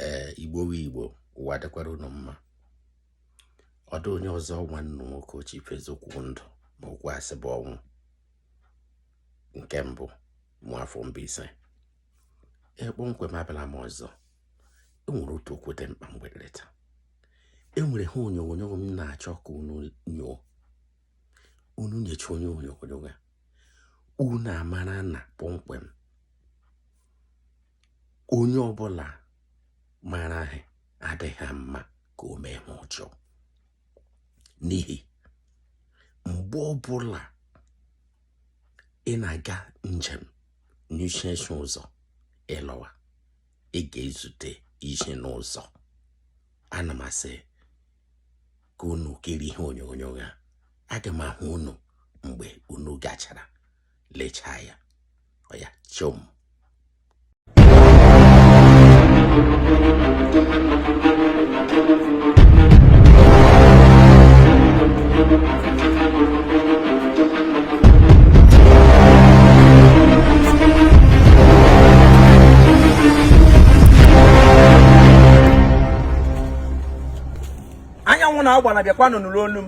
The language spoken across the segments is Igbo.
ee igbo wụ igbo ụwa dịkwara unu mma ọ dị onye ọzọ nwanne unu nwoke chief eziokwu ndụ ma okwu asị bụ ọnwụ nke mbụ nwafọ mbaise kpọmkwem abịala m ọzọ enwere otu okwu dị mkpa mgbe nleta enwere ihe onyonyo m na-achọ ka unu nyoo unu nyochaa ihe onyonyo ya unu amara na kpọmkwem onye ọbụla mara ihe adịghị mma ka o mee ihe ọjọọ n'ihi mgbe ọbụla ị na-aga njem nyụsie nsị ụzọ ịlọwa ị ga-ezute isi n'ụzọ ana m asị ka unu kiri ihe onyonyo ya aga m ahụ unu mgbe unu gachara lechaa ya ọ ya chom anyanwụ na-agba na bịakwanụ nụrụ olu m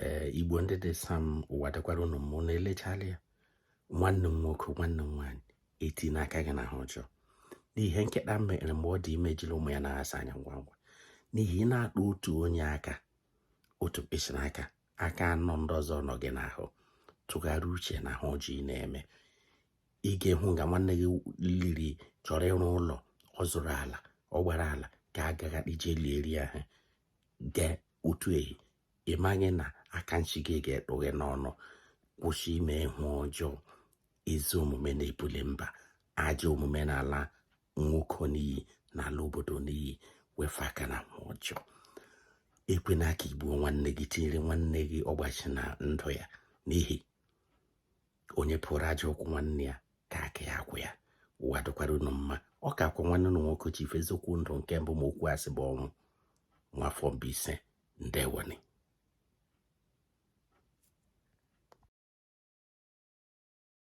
ee igbo ndị dị sam ụwa dịkwara ụnụ mma ụnụ elechala ya nwanne m nwoke nwanne m nwaanyị etina aka gị n'ihe ọjọọ n'ihe nkịta mere mgbe ọ dị ime jiri ụmụ ya anaghị asa anya ngwa ngwa n'ihi ị na-atụ otu onye aka otu mkpịsị n'aka aka anọ ndị ọzọ nọ gị n'ahụ tụgharị uche na ihe ọjọọ ị na-eme ị ga-ehụ nga nwanne gị liri chọrọ ịrụ ụlọ ọ zụrụ ala ọ gbara ala ka a gagha ije lieri ahụ gee otu ehi ị maghị na aka nchi gị ga-ekpu gị n'ọnụ kwụsị ime ihe ọjọọ ezi omume na-ebuli mba ajọ omume na-ala nwoke n'iyi na-ala obodo n'iyi wefe aka n'ihe ọjọọ ekwena ka i gbuo nwanne gị tinyere nwanne gị ọgbachi na ndụ ya n'ihi onye pụrụ ajọ ụkwụ nwanne ya ka aka ya agwụ ya ụwa dịkwara unu mma ọ ka kwa nwanne unu nwoke chief eziokwu ndụ nke mbụ ma okwu asị bụ ọnwụ nwafọ mbaise ndewonị